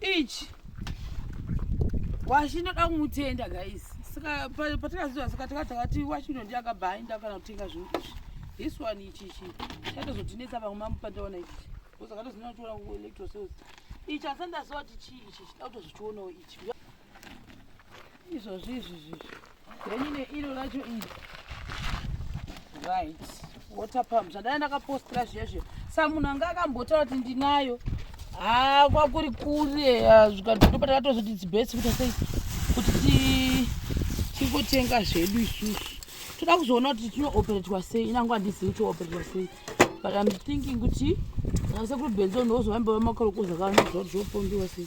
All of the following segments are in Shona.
ichi washi ndoda kumutenda guys saka patakaziva saka taka takati washi ndo ndiye akabva aenda kana kutenga zvinhu izvi this one ichichi chatozotinetsa vamwe mamupandaona ichichi bcause akatozinaa chiona kuelectro sales ichi asi ndaziva kuti chii ichi chida kutozvichionawo ichi izvozvi izvi zvizvi then ine iro racho iri right water pump zvandana ndakapostira zviya zviya sa munhu anga akambotaura kuti ndinayo haa ah, kwakuri kure ah, zvikandindo patakatozoti its best kuita sei kuti tingotenga zvedu isusu toda kuzoona kuti tinooperetwa sei inango handizivi kuti ooperetwa sei but im thinking kuti asekuru benzo ndozovambeva makorokoza kanozoa kuti zvopondiwa sei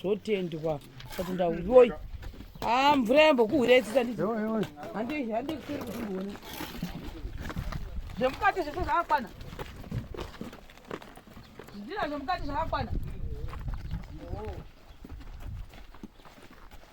zvotendwa sati ndauyoi ha ah, mvura yambokuhwira itsisa ndii handikusiri kuti ndione zvemukati zvese zvakakwana zvidina zvemukati zvakakwana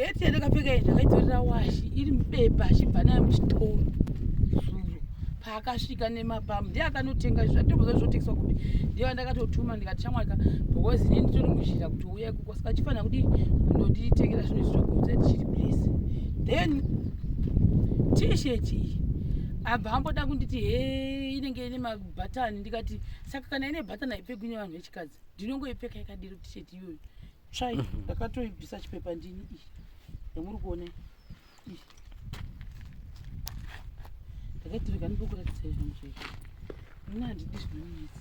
heti yandakapfeka iyi ndakaitorera washi iri mubepa achibva nayo muchitoro zuro paakasvika nemapamu ndiye akanotenga izvi zvatomboza zvotengeswa kuti ndiye vandakatotuma ndikati chamwaka because ini nditori muzhira kuti uya ikoko saka chifanira kuti ndonditengera zvinhu izvi zvakuudza tichiri please then tisheti iyi abva amboda kunditi he inenge ine mabhatani ndikati saka kana ine bhatani haipfekwi nevanhu vechikadzi ndinongoipfeka yakadiro tisheti iyoyo tsvai mhm. ndakatoibvisa chipepa ndini iyi yamuri kuona iyi ndakaitirega ndikukuratidza izvoni zvese muna handidi zvinomiisa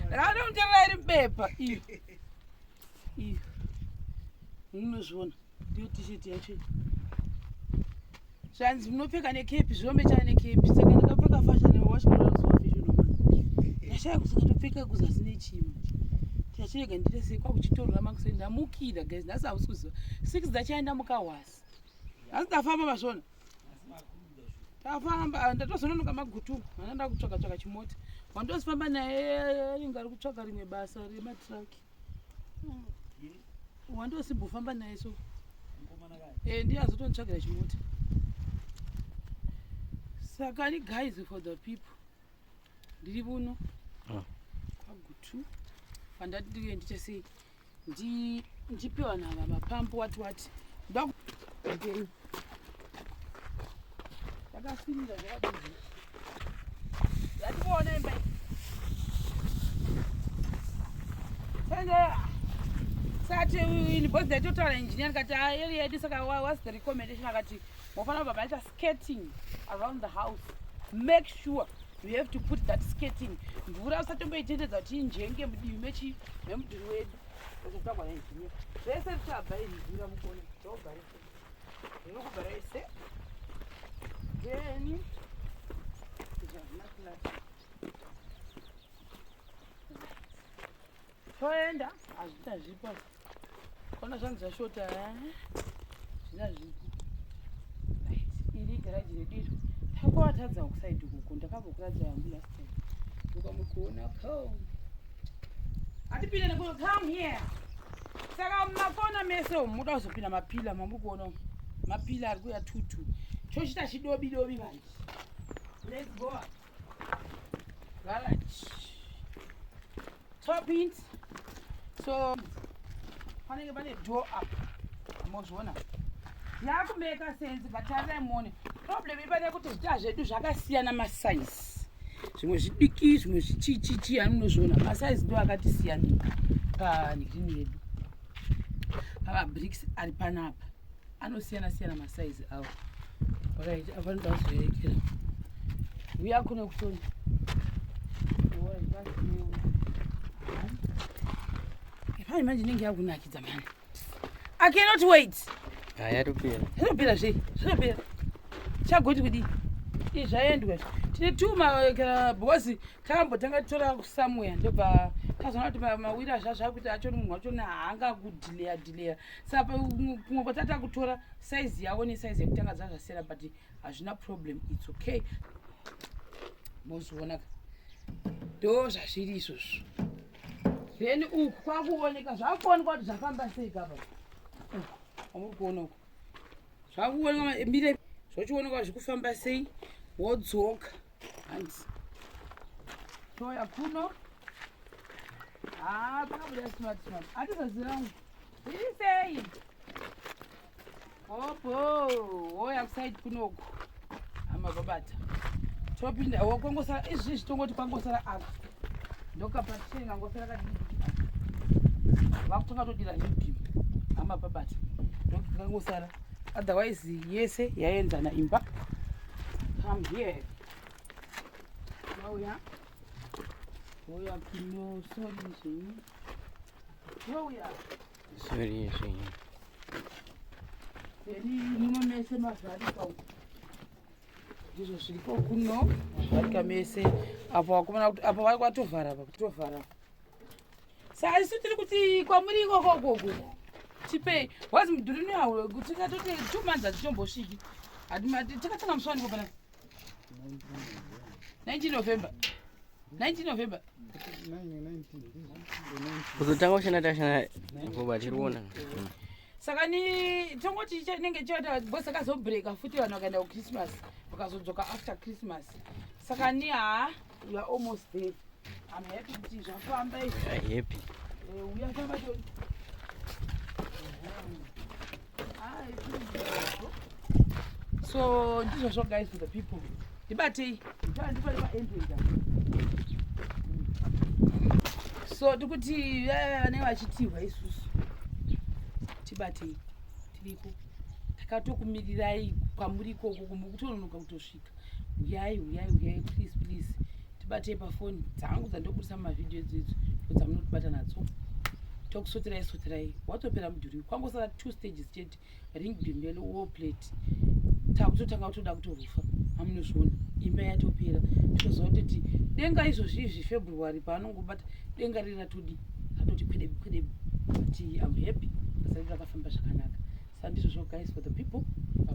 ndakatomutorera iri bepa iyo iyo munozviona ndiyo t-shirt yacho zvanzi munopfeka nekepi zvinombechana nekepi saka ndakapfeka fashion washashaya kusikatopfeka kuzasi nechimwe chachirega ndire sei kwakuchitorora makuseni ndamukira guys nhasi hausi kuziva six dzachaenda mukahwasi nhasi ndafamba masvona tafamba ah, ndatozononoka magutu ana ndakutsvaka tsvaka chimota wandozifamba naye anenge ari kutsvaka rimwe basa rematraki wandosimbofa naye so eh, ndiye azotonditsvagira chimota saka ni guys for the people ndiri vuno ah. kwagutu fandati ndiye ndiite sei ndipiwa nava mapambo wati wati Ndakasimira zvakadini? Ndationa imba. Sanga sati ini boss dai totaura engineer kati ayeli ah, yedu saka what's the recommendation akati mofanira baba aita skating around the house. Make sure you have to put that skating mvura usatomboitendedza kuti injenge mudivi mechi memudhuri wedu zvese zvichabva iri mvura mukona zvogara toenda hazvina zvipo kona zvanzi zvashota eh? zvina zvipo iri garaji redu iro takuvatadza kusaidi kuku ndakavokuratidza yangu last time ukamukuona ko atipinde nekuno come here saka makona mese umu muda kuzopinda mapila mamuri kuona umu mapila ari kuya tutu chochita chidobi dobi manje let's go garage top int so panenge pane door up mozviona yakumeka sense but arai muone problem ipane kuti zvita zvedu zvakasiyana masize zvimwe zvidiki zvimwe zvichichichi anonozviona masaizi ndo akatisiyanika panhirini yedu pamabriks ari panapa anosiyana siyana masaizi awo vakaita avanoda kuzoerekera uya kuno kutoni ipani manje inenge yakunakidza mani I cannot wait. Haya topera. Zvinopera zve. Zvinopera. Chagoti kudii? Izvi zvaendwa. Tine tuma kana bozi tambo tanga tora somewhere ndobva tazoona kuti mawiri azva zvakuti acho munhu wacho na hanga kudelaya delaya. Saka kumwe kwatata kutora size yawo ne size yekutanga zvazvasera but hazvina problem. It's okay. Mozviona ka. Ndozvazviri izvozvo. then uku kwakuoneka zvakuoneka kuti zvafamba sei kapa amuri kuona uku zvakuoneka mire zvochioneka kuti zvikufamba sei wodzoka hanzi toya kuno haa pakabuda smart smart atizazirangu iri sei Hopo, hoya kusaidi kunoku. Hama babata. Topinda, wokongosara, izvi zvitongoti kwangosara apa. Ndokapatire ngangosara kadiki. Vakutonga todira hidimi. Hama babata. Ndokangosara. Otherwise, yese yaenzana imba. Come here. Hoya. Hoya kino, sorry, zvenyu. Hoya. Hoya. Sorry, sorry. Eri muno mese mazvarika uko. Ndizvo zviripo kuno mazvarika mese apo wakumana kuti apo vari kwatovhara apa kutovhara. Saka isu tiri kuti kwamuri ikoko ukoko tipei wazi mudhuri unoyauro kuti tikatote two months hatichombosviki Hati- hati- takatanga musi waniko panapa 19 November. 19 November. Uzotanga ushana tashana ngoba tiriona. Saka ni tongoti chinenge chota boss akazobreaka futi vanhu vakaenda ku Christmas vakazodzoka after Christmas. Saka ni ha You are almost there. I'm happy kuti zvafamba izvi. You are happy. Eh, uya famba toni. Ah, so ndizvo zvo guys for the people. Ndibatei. Ndibatei ndipa ndipa entrance. So tikuti eh, vane vachitihwa isusu. Tibatei. Tiriko. Takatokumirirai kwamuri ikoko kumukutononoka kutosvika. kusvika huyai huyai huyai please please tibatei pafoni dzangu dzandobudisa mumavhidhiyo idzidzi ndodzamunotibata nadzo tokusoterai soterai watopera mudhuri kwangosara two stages chete ring dimbele wo plate takutotanga kutoda kutorufa amunozviona imba yatopera tozoa toti denga izvozvi izvi february paanongobata denga riri ratodi ratoti kwedebi kwedebi ati am happy asati rakafamba zvakanaka sandizvozvo guys for the people